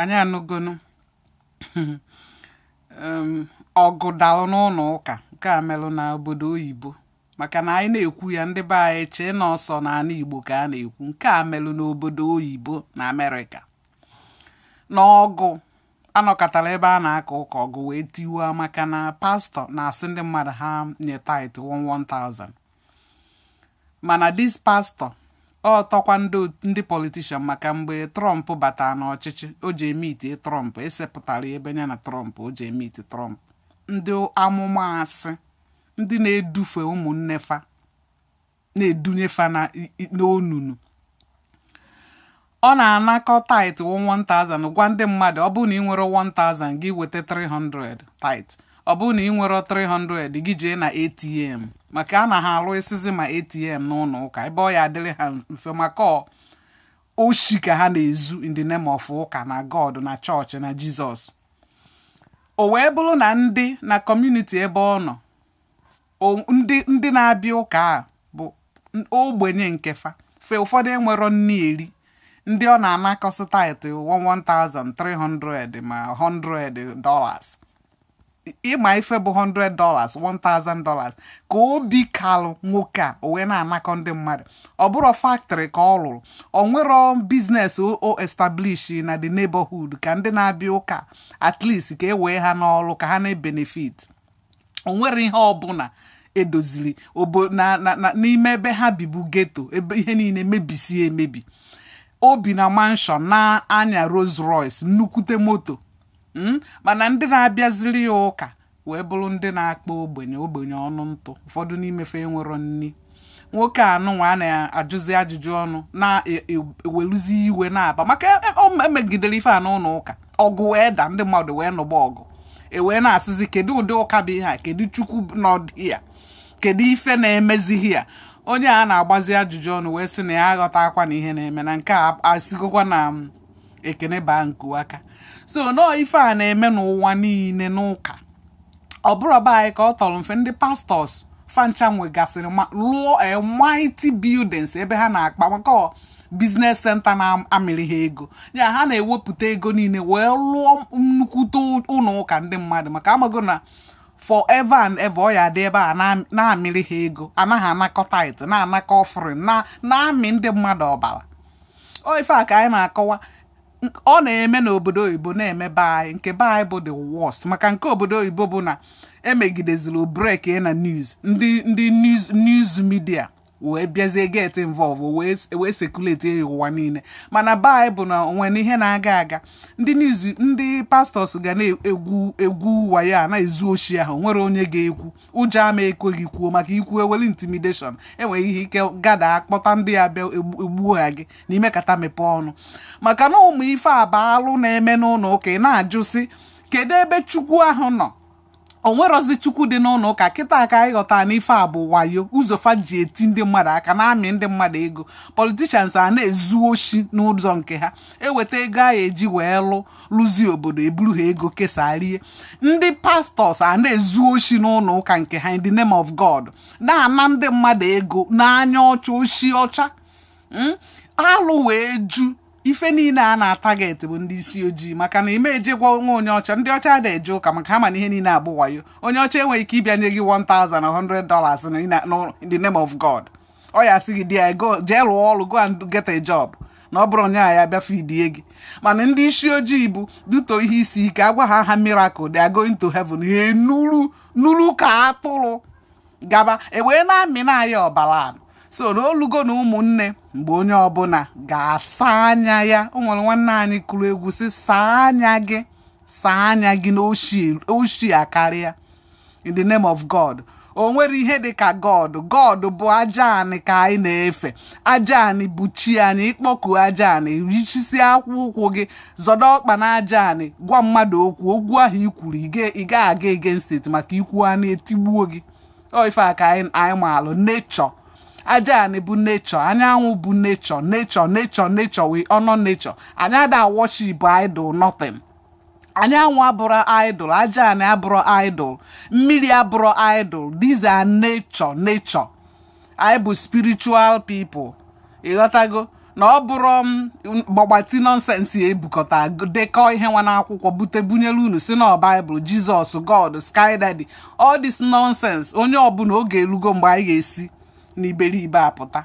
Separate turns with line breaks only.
anyị anụgonu um, ọgụ dalụ n'ụnọ ụka nke a melụ na obodo oyibo maka na anyị na-ekwu ya ndị be anyị chee na ọ sọ n'anị igbo ka a na-ekwu nke a melụ n'obodo oyibo na america na ọgụ a nọkatara ebe a na-aka ụka ọgụ wee tiwaa maka na pastor na-asị ndị mmadụ ha nye tithe 1000 mana this pastor ọ tọkwa ndị politician maka mgbe trump batara n'ọchịchị o jee meet trump e sepụtara ebe ya na trump o jee meet trump ndị amụma asị ndị na-edufe ụmụnne fa na-edunye fa n'onunu ọ na-anakọ tithe 1000 gwa ndị mmadụ ọ bụrụ na ị nwere 1000 gị weta 300 tithe ọ bụrụ na ị nwerọ 300 gị jee na atm maka a na ha alụsịzi ma atm n'ụnọ ụka ebe ọ ya-adịrị ha mfe maka oshi ka ha na-ezu in the name of ụka na god na church na jesus o wee bụrụ na ndị na community ebe ọ nọ ndị ndị na-abịa ụka a bụ ogbenye nke fa fe ụfọdụ enwero nni eri ndị ọ na-anakọsị tithe 1000 300 ma 100 dollars ị ma ife bụ 100 dollars 1000 dollars ka obi kalụ nwoke a o wee na-anakọ ndị mmadụ ọ bụrụ factory ka ọ lụrụ o nwero business o establish na the neighborhood ka ndị na-abịa ụka at least ka e wee ha n'ọrụ ka ha na-ebenefit o nwere ihe ọbụna e doziri ọbụna n'ime ebe ha bibu ghetto ebe ihe niine mebisie emebi o bi na mansion na-anya Rolls Royce nnukwute moto hmm? mana ndị na-abịaziri ya ụka wee bụrụ ndị na-akpa ogbenye ogbenye ọnụ ntụ ụfọdụ n'ime fa enwero nni nwoke anụnwa a na-ajụzi ajụjụ ọnụ na-eweluzi e, e, iwe na-aba maka e, o megidere ife a n'ụnọ ụka ọgụ wee daa ndị mmadụ wee nụba ọgụ e wee na-asịzi kedu ụdị ụka bụ ihe a kedu chukwu n'ọdị ya kedu ife na-emezi here onye a na-agbazi ajụjụ ọnụ wee sị na ya aghọtakwana ihe na-eme na nke a asigokwa na um, ekene baa nku aka so nọọ ife a na-eme n'ụwa niine n'ụka ọ bụrụ be anyị ka ọ tọrọ mfe ndị pastors fancha nwegasịrị lụọ eh, mighty buildings ebe ha na-akpa maka business center na-amịrị ha ego ya ha na-ewepụta ego niile wee lụọ nnukwute ụnọ ụka ndị mmadụ maka a mago na forever and ever ọ ya-adị ebe a na-amịrị ha ego ana ha anakọ tithe na-anakọ offering na-amị ndị mmadụ ọbara ọ ife a ka anyị na-akọwa ọ na-eme n'obodo oyibo na-eme be anyị nke be anyị bụ the worst maka nke obodo oyibo bụ na emegideziri break na news ndị ndị news news media wee bịazie get involve wee circulate ya ụwa niile mana be anyị bụ na o nwee ihe na-aga aga ndị na-ezu ndị pastors ga na-egwu egwu wayo a na-ezu oshi ahụ nwerọ onye ga-ekwu ụjọ ama ekwe gị kwuo maka i kwuo eweli intimidation e nwee ike gada akpọta ndị ya bịa egbuo ha gị na i mekata mepee ọnụ maka na ụmụ ife a bụ alụ na-eme n'ụlọ ụka ị na-ajụ sị kedu ebe chukwu ahụ nọ o nwerọzi chukwu dị n'ụlọ ụka kịta ka anyị ghọta na ife a bụ wayo ụzọ fa ji eti ndị mmadụ aka na-amị ndị mmadụ ego politicians a na-ezu oshi n'ụzọ nke ha eweta ego a eji wee lụ lụzie obodo eburu ha ego kesaa rie ndị pastors a na-ezu oshi n'ụlọ ụka nke ha in the name of god na-ana ndị mmadụ ego n'anya ọcha oshi ọcha hmm? alụ wee ju ife niile a na-atarget bụ ndị isi ojii maka na ị ma eje gwa onwe onye ọcha ndị ọcha na-eje ụka maka ha ma na ihe niile abụ wayo onye ọcha enweghị ike ịbịa nye gị 1000 100 dollars in the name of god ọ ya-asị gị di ya go jee lụọ ọrụ go and get a job na ọ bụrọ nya ya-abịa feedie gị mana ndị isi ojii bụ due to ihe isi ike a gwa ha ha miracle they are going to heaven ha enuru nuru ka atụrụ gaba e wee na-amị na ya ọbara anụ so na o lugo na ụmụnne mgbe onye ọbụla ga-asa anya ya o nwere nwanne anyị kụrụ egwu sị saa anya gị saa anya gị na oshi akarịa in the name of god o nwerọ ihe dị ka god god bụ aja anị ka anyị na-efe aja anị bụ chi anyị ịkpọku aja anị ị chịsị akpụ ụkwụ gị zọdo ọkpa na aja anị gwa mmadụ okwu okwu ahụ i kwuru ị gaghị aga against it maka ikwu anị etigbuo gị ọ ife a ka anyị anyị maalụ nature aja anị bụ nature anyanwụ bụ nature nature nature nature we honor nature anyị ada worship idol nothing anyanwụ abụrọ idol aja anị abụrọ idol mmiri abụrọ idol these are nature nature anyị bụ spiritual people ịghọtago na ọ bụrọ um, gbagbati nonsense a e bukọta dekọ ihe nwa n'akwụkwọ bute bunyere unu sị na ọ bible jesus god sky daddy all this nonsense onye ọbụla oge erugo mgbe anyị ga-esi n'iberibe apụta